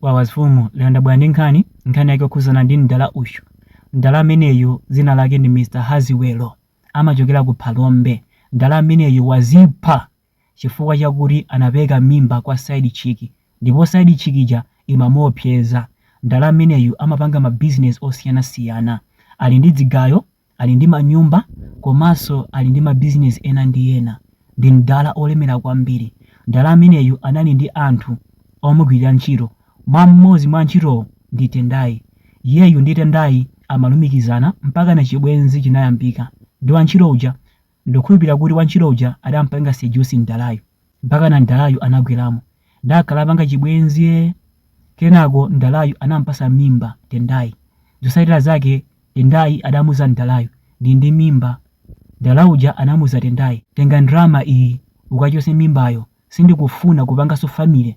Wawa afumu, lero ndabwera ndi nkhani, nkhani yake yokhudzana ndi mdala uyu. Mdala ameneyu dzina lake ndi Mr Haziwelo, amachokera ku Phalombe. Mdala ameneyu wazipha chifukwa chakuti anapeleka mimba kwa side chick ndipo side chick ija imamuopseza. Mdala ameneyu amapanga ma business osiyana siyana. Ali ndi dzigayo ali ndi manyumba komanso ali ndi mabizinesi ena ndi ena. Ndi mdala olemera kwambiri. Mdala ameneyu anali ndi anthu omugwilira ntchito. Mwa mmodzi mwa antchitowo ndi Tendai. Iyeyu ndi Tendai amalumikizana mpakana chibwenzi chinayambika ndi wantchito uja. Ndikukhulupilira kuti wantchito uja adampanga seduce mdalayu mpakana mdalayu anagwelamo ndakhala apanga chibwenzi ee! Kenako mdalayu anampasa mimba Tendai. Zosatira zake Tendai adamuza mdalayu, ndili ndi mimba. Mdala uja anamuza Tendai, tenga ndalama iyi ukachose mimbayo sindikufuna kupangaso family.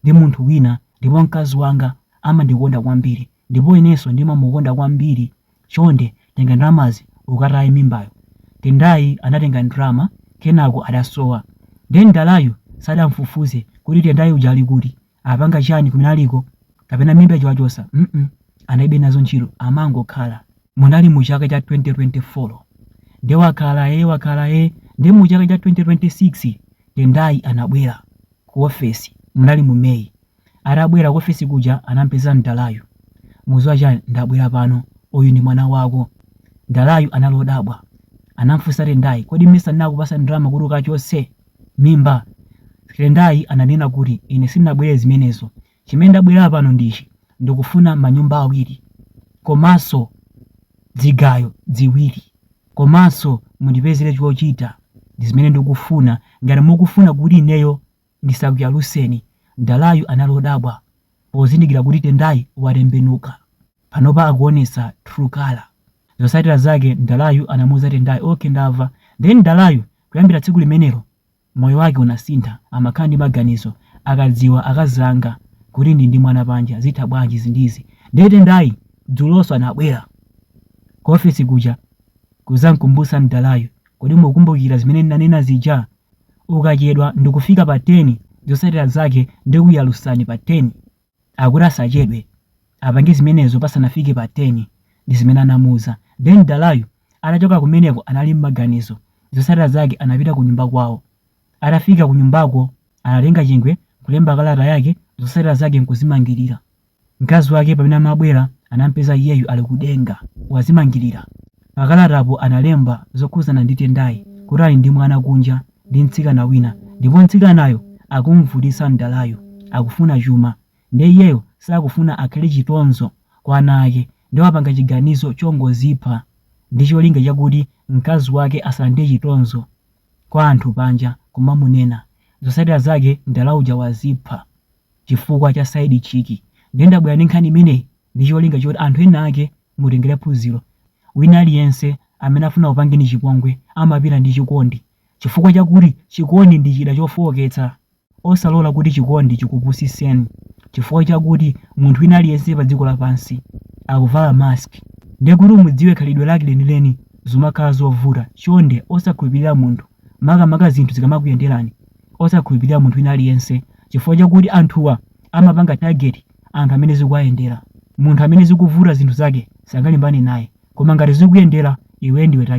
ndi munthu wina ndipo mkazi wanga amandikonda kwambiri ndipo inenso ndimamukonda kwambiri chonde tenga ndalamazi ukataye mimbayo. Tendayi anatenga ndalama kenako adasowa nde mdalayu sadamfufuze kuti Tendayi uja ali kuti, apanga chani kumene aliko kapena mimba ija wachosa mm analibe nazo ntchito amangokhala. Munali mu chaka cha 2024 nde wakhala ee wakhala ee nde mu chaka cha 2026 Tendayi anabwera. ku office munali mu May atabwera ku office kuja anampeza mdalayu mukuziwa chani ndabwera pano uyu ndi mwana wako mdalayu anali odabwa anamfunsa tendayi kodi mesa ndinakupasa ndalama kuti ukachotse mimba tendayi ananena kuti ine sindinabwere zimenezo Chimene ndabwelera pano ndi ichi ndikufuna manyumba awiri komanso dzigayo dziwiri komanso mundipezele chochita ndizimene ndikufuna ngati mukufuna kuti ineyo ndisakuyaluseni Mdalayu anali odabwa pozindikila kuti Tendai watembenuka panopa akuonesa true colour zosatila zake Mdalayu anamuuza Tendai ok ndava then Mdalayu kuyambila tsiku limenelo Moyo wake unasintha, amakhala ndi maganizo akadziwa akazi anga kuti ndi ndi mwana panja zitha bwanji izi ndi izi ndiye Tendayi dzulonso anabwera Ku ofesi kuja kuzamkumbusa mdalayu kodi mukukumbukira zimene ndinanena zija ukachedwa ndikufika pa 10 zosatira zake ndikuyalusani pa 10 akuti asachedwe apange zimenezo pasanafike pa 10 ndizimene anamuuza then Mdalayu atachoka kumeneko anali mmaganizo zotsatira zake anapita kunyumba kwawo atafika kunyumbako anatenga chingwe nkulemba kalata yake zotsatira zake nkuzimangilira mkazi wake pamene amabwera anampeza iyeyu ali kudenga wazimangilira pakalatapo analemba zokhuzana ndi Tendai kuti ali ndi mwana kunja ndi mtsikana wina ndipo mtsikanayo akumuvutitsa mdalayo akufuna chuma nde iyeyo sakufuna akhale chitonzo kwa ana ake nde wapanga chiganizo chongozipha ndi cholinga chakuti mkazi wake asalandire chitonzo kwa anthu panja kumamunena zotsatira zake mdala uja wazipha chifukwa cha side chick nde ndabwera ndi nkhani imeneyi ndi cholinga choti anthu ena ake Mutengele phunzilo, wina aliyense amene afuna kupangeni chipongwe amapita ndi chikondi chifukwa chakuti chikondi ndi chida chofooketsa. Osalola kuti chikondi chikupusiseni chifukwa chakuti munthu wina aliyense pa dziko lapansi akuvala mask nde kuti umudziwe khalidwe lake lenileni zimakhala zovuta chonde osakhulupilira munthu makamaka zinthu zikamakuyenderani osakhulupilira munthu wina aliyense chifukwa chakuti anthuwa amapanga target anthu amene zikuwayendera. Munthu amene zikuvuta zinthu zake sangalimbane naye, koma ngati zikuyendera iwe ndiwe target.